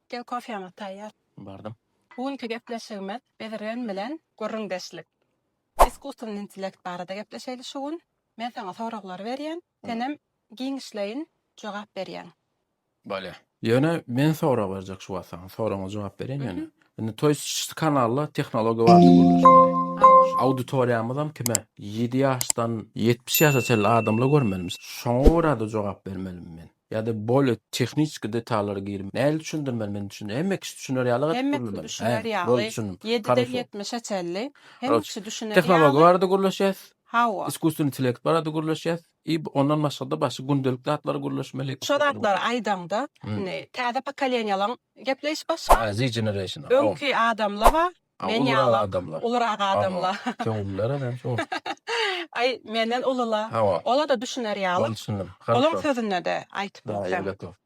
Gel kofýaňyz taýýar. Bardym. Bu günki gepleşigimiz bezirgen bilen gürrüňdeşlik. Iskusstwny intellekt barada gepleşeýli şu gün. Men saňa soraglary berýän. Senem giňişleýin jogap berýäň. Bolýa. Ýöne men sorag berjek şu wagt saňa. Soragyňa jogap bereýin ýöne. Indi toý ş kanalda tehnologiýa barada gürleşmeli. Auditoriýamyzam kime? Ýedi ýaşdan. Ýetmiş ýaşa çenli adamlar görmelimi? Şoňa görä-de jogap bermelimi men? Ýa-da bolýa tehniçki detallara girip. Nädip düşündirmeli men düşün. Hemme kişi düşüner ýaly gaty gürlemeli. Hemme kişi düşüner ýaly. Boldy düşündim. Ýediden ýetmişe çenli hemme kişi düşüner ýaly. Tehnologiýa barada gürleşýäs. Hawa. Iskusstweniý intellekt barada gürleşýäs. I ondan başgada başga gündelik zatlary gürleşmeli. Şo zatlary aýdaňda, indi täze pokoleniýalaň gepleýşi başga. Z generation. Öňki adamla ba, men ýala. Ulurak adamla. Köňüller eden şo. Aý, menden ulula. Ola-da düşüner ýaly. Ola düşündim. Olaň sözünde-de aýtyp bilseň.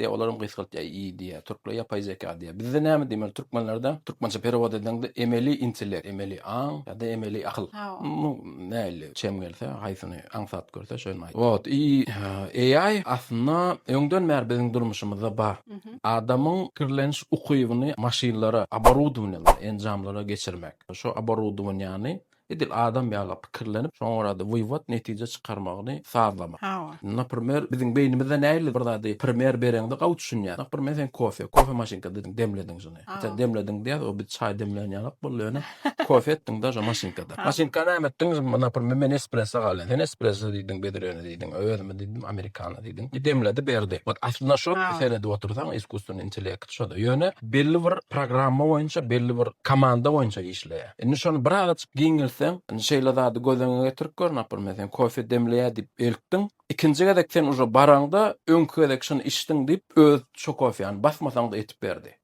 Dä olaram gysgaltýa i diýýä türkler ýapaý zeka diýýä bizde näme diýmeli türkmenlerde türkmençe perewod edeňde emeli intellek emeli aň ýada emeli akyl nu näli çem gelse haýsyny aňsat görse şony aýt wot i AI aslynda öňden bäri biziň durmuşymyzda bar adamyň pikirleniş ukybyny maşynlara oborudowaniýalara enjamlara geçirmek şo oborudowaniýany Edil adam ýaly pikirlenip, şoňa görä-de wyýwat netije çykarmagyny sazlamak. Hawa. Naprmer, biziň beýnimizde nähili bir zady primer bereňde gawy düşünýär. Naprmer, sen kofe, kofe maşynka diýdiň, demlediň şuny. Hawa. Demlediň diýýäs, o biz çaý demlän ýalak boldy, ýöne kofe etdiň-de şo maşynkada. Hawa. Maşynka näme etdiň? Naprmer, men espresso galýan. Sen espresso diýdiň, biz ýöne diýdiň, özümiz diýdim, amerikano diýdiň. I demledi, berdi. Ot aslynda şo Hawa. seredip otursaň, iskusstweniý intellekt şo-da. Ýöne belli bir programma boýunça, belli bir komanda boýunça işleýär. Indi şony birazajyk giňeltseň, indi şeýle zady göz öňüňe getirip gör, napr. Men seni kofe demleýä diýip eltdim. Ikinji gezek sen uje baraňda, öňki gezek şuny içdiň diýip, öz şo kofeany basmasaň-da etip berdi.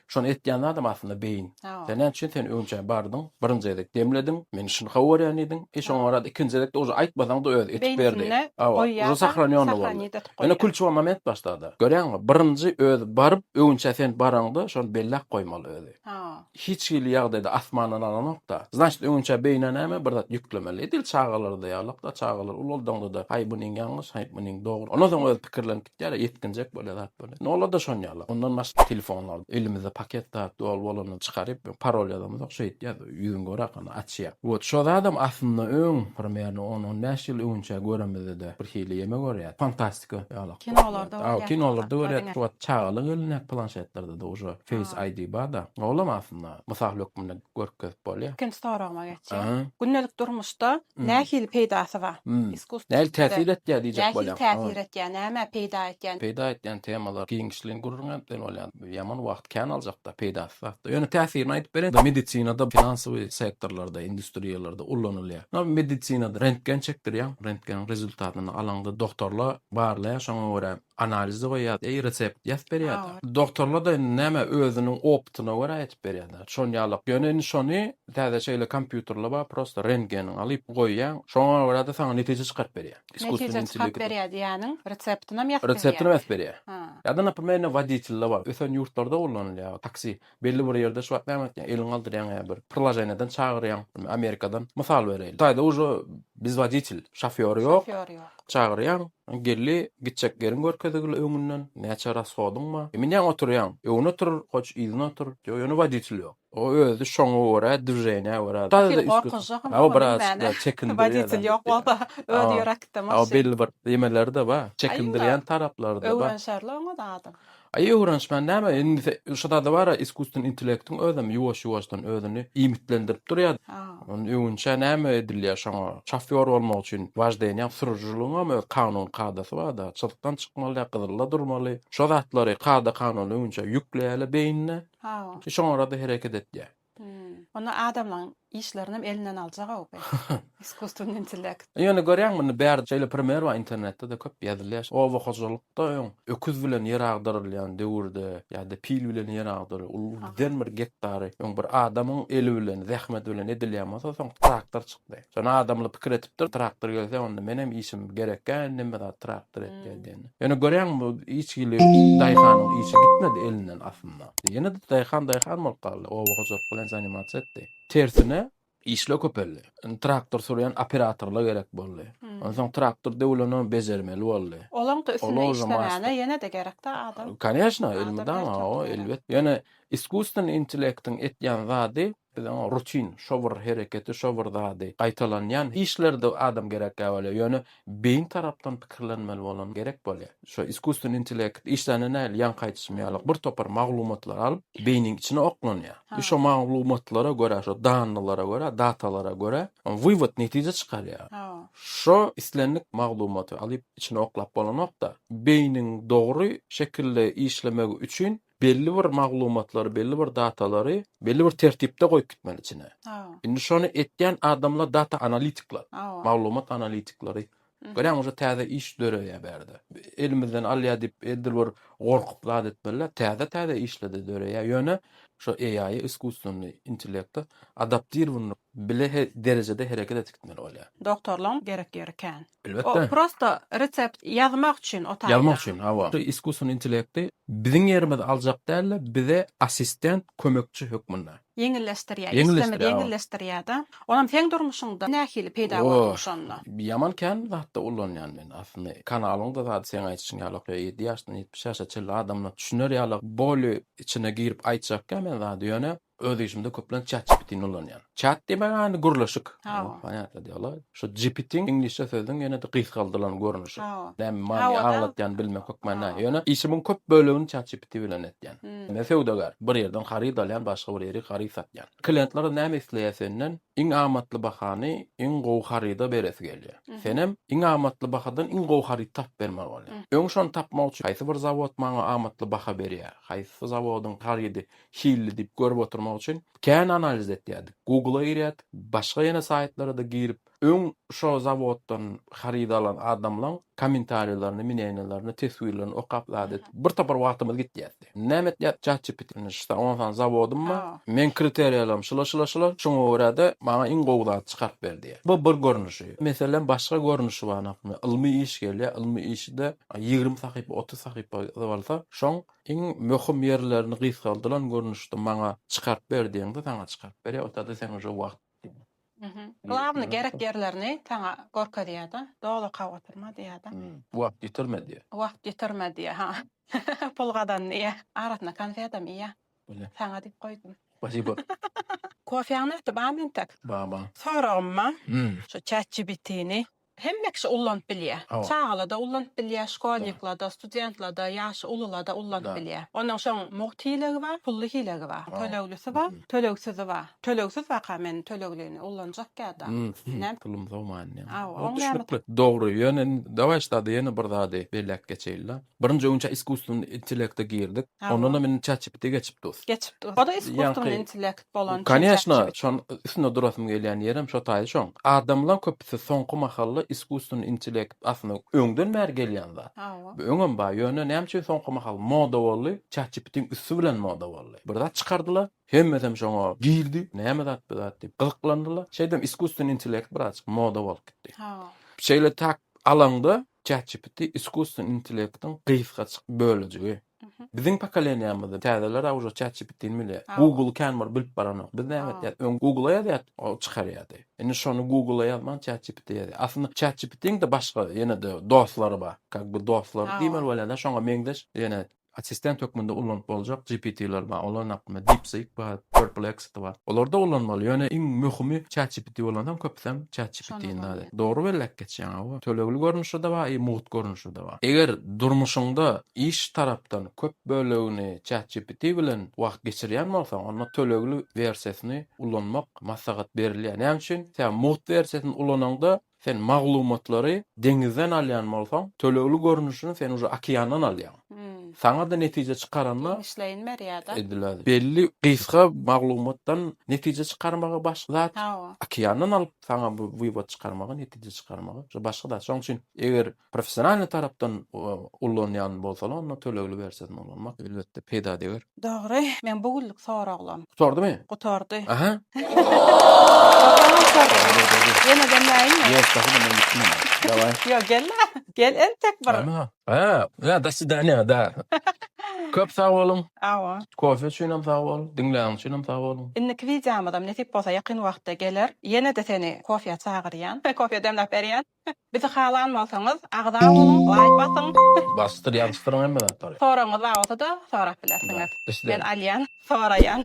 Şony etýän zadam aslynda beýin. Sen näme üçin sen öňçä bardyň, birinji gezek demlediň, men şuny gowy görýän diýdiň, e şoňa barada ikinji gezek-de uje aýtmasaň-da öz etip berdi. Hawa, uje sahranýony boldy. Ýöne kulçuwa moment başlady. Görýäňmi, birinji özi baryp, öňçä sen baraňda, şony belläp goýmaly özi. Hiç hili ýagdaýda asmandan alanok-da. Znaçt öňinçä beýnä näme bir zat ýüklemeli. Edil çagalarda ýalak-da, çagalar ulaldaňda-da haý munyň ýalňyş, haý munyň dogry. Ondan soň özi pikirlenip gitýär-ä, ýetginjek bolýar zat bolýar. Nolada şon ýaly. Ondan başga telefonlarda elimizde paket zat doly bolanda çykaryp parol ýazamyzok, şeýtýäs, ýüzüňi göräýkana açýar. Wot şo zadam aslynda öň, primerno on-on bäş ýyl öňinçä göremizde-de birhili ýeme görýärdi. Fantastika. Tüke ýalak. Kinolarda görýän. Aw kinolarda görýän şu wagt çagalar elinde planşetlerde de uje face ID barda. Olam aslynda mysal hökmünde görkezip bolýar. Ikinji soragyma geçýän. Gündelik durmuşda nähili peýdasy bar? Iskusstw. Nähili täsir etýär diýjek bolýan. Nähili täsir etýär, nämä peýda etýär? Peýda etýän temalar giňişleýin gürrüň etmeli bolýar. Ýaman wagt kän aljakda, peýdasy zatda. Ýöne täsirini aýdyp bereýin. Medisinada, finansowy sektorlarda, industriýalarda ullanylýar. Ynha, medisinada rentgen çekdirýäň, rentgeniň rezultatyny alaňda dogtorla barlaýar, şoňa görä analizi goýýar, eý, resept ýazyp berýär-de. Dogtorla-da indi näme, özüniň opytyna görä aýdyp berýär-de. Şon ýaly. Ýöne indi şony täze şeýle kompýuterler bar, prosta rentgeniňi alyp goýýaň, şoňa görä-de saňa netije çykaryp berýär. Iskusstvenniý Netije çykaryp intellekt. berýär diýýäniň reseptinam ýazyp berýär. Reseptinam ýazyp berýär. Ha. Ýa-da naprimýer indi woditelde bar. Ösen ýurtlarda ullanylýar taksi. Belli bir ýerde şu wagt näme etýäň, eliňi galdyrýaň ýa bir priloženiýadan çagyrýaň, Amerikadan mysal bereýin. Hytaýda uje biz woditel, şofýor ýok. Şofýor ýok. Çagyrýaň, geldi, gitjek ýeriň görkezigli öňünden, näçe rashodyň bar. Minýäň oturýaň, öňüne otur, hoç yzyna otur, ýöne woditel ýok. O özi şoňa görä dvženýä görä. Sen gorkunçja hym oňa bilmäne woditel ýok bolsa özi ýöräkitde maşyn. Aw belli bir ýemeleri-de bar. Çekindirýän taraplary-da bar. Öwrenşerli oňa zady. Aý öwrenişmän näme indi şo zada bara iskusstven intellektiň özem ýuwaş ýuwaşdan özüni iýmitlendirip durýa. Onda öwünçä näme edilýä şoňa şofýor bolmak üçin waždeniýaň sürüjiligiňem öz kanun kadasy barda çyzykdan çykmaly däl gyzylda durmaly şo zatlary kada kanun öwünçä ýükleýäle beýnine. Hawa. Şoňa görä-de hereket etýär. Onda adamlaryň işlerini hem elinden aljak-ow bu iskusstweniý intellekt. Ýöne görýäňmi, indi bärde şeýle primer bar, internetde-de köp ýazylýar. Oba hojalykda öň öküz bilen ýer agdarylýan döwürde ýa-da pil bilen ýer agdaryp, uly giden bir gektary öň bir adamyň eli bilen, zähmeti bilen edilýän bolsa, soň traktor çykdy. Şony adamly pikir etipdir, traktor gelse, onda menem işim gerekkä, neme zat traktor et gel diýende. Ýöne görýäňmi, bu hiç hili daýhanyň işi gitmedi elinden aslynda. Ýene-de daýhan daýhan bolup galdy, oba hojalyk bilen zanimasiýa etdi. Tersine, işler köpeldi. Indi traktor sürýän operatorlar gerek boldy. Onsoň traktor döwlenogam bejermeli boldy. Olaň-da üstünde işlemäne ýene-de gerek-dä adam. Koneşna, elmydama, hawa, elbet. Ýöne iskusstweniý intellektiň etýän zady Biz oňa rutin, şo bir hereketi, şo bir zady gaýtalanýan işlerde adam gerekkä bolýar. Ýöne beýin tarapdan pikirlenmeli bolan gerek bolýar. Şo iskusstweniý intelekt işlände nähili ýaňky aýdyşym ýaly bir topar maglumatlary alyp, beýniň içine oklanýar. I şo maglumatlara görä, şo dannylara görä, datalara görä wywod, netije çykarýar. Şo islendik maglumaty alyp içine oklap bolanok-da, beýniň dogry şekilde işlemegi üçin belli bir maglumatlary, belli bir datalary belli bir tertipde goýup gitmeli içine. Indi şony etýän adamlar data analitikler, maglumat analitikleri. Görýäňmi, uje täze iş döreýär bärde. Elimizden alýar diýip, edil bir gorkup zat etmeliler. Täze-täze işler-de döreýär. Ýöne şu AI-ýa, iskusstweniý intellekta adaptirowanylyk Bile derejede hereket edip gitmeli bolýar. Doktorlaň gerek ýeri kän. Elbetde. O prosto resept ýazmak üçin o taýdan. Ýazmak üçin, hawa. Şu iskusstwony intellekti biziň ýerimizi aljak dälde, bize assistent, kömekçi hökmünde. Ýeňilleşdirýär. Işimizi ýeňilleşdirýär-de. Onam seň durmuşyňda nähili peýda bolduň şonda? O, ýaman kän zatda ulanýan men. Aslynda kanalyň-da zady seň aýdyşyň ýaly ok, ýedi ýaşdan ýetmiş ýaşa çenli adamlar düşüner ýaly, boli içine girip aýtjak kän men zady. Ýöne Öz işimde köplenç ChatGPT-ni ulanýan. Chat diýmek ýany gürleşik. Ponýatly diýýärler. Şu GPT iňlisçe sözüň ýene-de gysgaldylan görnüşi. Näme many aňlatýany bilmek hökman näme. Ýöne işimiň köp bölegini ChatGPT bilen etýän. Men söwdagär. Bir ýerden haryt alýan, başga bir ýeri haryt satýan. Kliýentler näme isleýär senden? Iň amatly bahany iň gowy haryda beresi gelýär. Senem iň amatly bahadan iň gowy haryt tapyp bermeli bolýaň. Öň şony tapmak üçin haýsy bir zawod maňa amatly baha berýär? Haýsy zawodyň harydy Hilli diýip görüp oturmak üçin kän analiz etýärdik. Google-a girýärdik, başga ýene saýtlara-da girip, öň şo zawoddan haryt alan adamlaň kommentariýalaryny, mneniýalaryny, teswirlerini okap zat edip, bir topar wagtymyz gitýärdi. Näme etýärdik? ChatGPT bilen şta on sany zawodym bar, meň kriteriýalarym şular, şular, şular, şoňa görä-de maňa iň gowy zady çykaryp ber diýýär. Bu bir görnüşi. Meselem, başga görnüşi bar, naprimýer, ylmy iş gelýär, ylmy işi-de ýigrimi sahypa, otuz sahypa bolsa, şoň Iň möhüm ýerlerini gysgaldylan görnüşde maňa çykaryp ber diýeňde saňa çykaryp berýär otada sen uje wagt diýýär. Glawny gerek ýerlerini saňa görkezýärda doly okaw oturma diýýärda. Wagt ýitirme diýýär. Wagt ýitirme diýýär ha pul gazan diýýär. Arasyna konfetam iýýär. Bile. Saňa diýip goýdum. Spasibo. Kofeňi ötüp bamy entek? Baba. Soragym bar. Şu chat GPTni Hemme kişi ullanyp bilýä. Çagalarda ullanyp bilýä, şkolniklarda, studentlarda, ýaşy ulularda ullanyp bilýä. Ondan soň mugt hilegi bar, pully hilegi bar, töleglisi bar, tölegsizi bar. Tölegsiz waka men töleglini ullanjak ýada. Näme? Pulum sow manyny. Hawa. Düşnükli. Dogry. Ýöne dawaý ştada ýene bir zady belläp geçeýinle. Birinji gün iskustwnly intellekta girdik. Ondanam indi chatgpt geçip durus. Geçip durus. Oda iskustwnly intellekt. bolan Kanyashna, şoň üstünde durasym gelýän ýerem şo taýy şoň. Adamlaň köpüsi soňky mahalla iskusstwony intellekt aslynda öňden bäri gelýän zat. Bu öňem bar, ýöne näme üçin soňky mahal moda boldy, çatjipitiň üsti bilen moda boldy. Bir zat çykardylar, hemmesem şoňa girdi, näme zat bu zat diýip gyzyklandylar. Şeýdem iskusstwony intellekt birazjyk moda bolup gitdi. Şeýle tak alaňda ChatGPT iskusstven intellektiň gysgaçyk bölejigi. Biziň pokoleniýamyzda täzeler awjo ChatGPT-ni bilýär. Google kän bir bilip baranok. Biz näme etýäs? Öň Google-a ýazýardyk, o çykarýardy. Indi şony Google-a ýazman ChatGPT-ä ýazýar. Aslynda ChatGPT-niň-de başga ýene-de dostlary bar. Kak bir dostlary diýmeli bolýar-da, şoňa meňzeş ýene Assistent hökmünde ulanyp boljak GPT-ler bar. Olaryň hakynda DeepSeek bar, Perplexity bar. Olarda ulanmaly. Ýöne iň möhümi ChatGPT bolansoň köpüsem ChatGPT-ni däl. Dogry bellek geçýäň hawa. Tölegli görnüşde-de bar i mugt görnüşde-de bar. Eger durmuşyňda iş tarapdan köp bölegini ChatGPT bilen wagt geçirýän bolsaň, onda tölegli wersiýasyny ulanmak maslahat berilýär. Näme üçin? Sebäbi mugt wersiýasyny ulanaňda Sen maglumatlary deňizden alýan bolsaň, tölegli görnüşini sen uje okeandan alýaň. Saňa-da netije çykaranda, Giňişleýin berýär-de. edilädi. Belli gysga maglumatdan netije çykarmagy başga zat, Hawa. okeandan alyp saňa bu wywod çykarmagy, netije çykarmagy, uje başga zat. Şonuň üçin eger professionalnyý tarapdan ullanýan bolsalar onda tölegli wersiýasyny ulanmak elbetde peýdadeger. Dogry, men bu günlük soraglam. Gutardymy? Gutardy. Aha. Ýeneden näinmi? Ýok, daha da men gitmen. Daway. Ýok, gel-le. Gel entek bir. Aha. Ha, ýa do swidaniýa, da. Köp sag boluň. Awa. Kofe üçinem sag bol, diňläniň üçinem sag boluň. Indiki wideomyzam nesip bolsa ýakyn wagtda geler. Ýene-de seni kofeýa çagyrýan. Kofeýa demläp berýän. Bizi halan bolsaňyz agza boluň laýk basyň. Bassyr ýazyşdyryň hemme zatlary. Soragyňyz bar bolsada sorap bilersiňiz. Men alýan soraýan.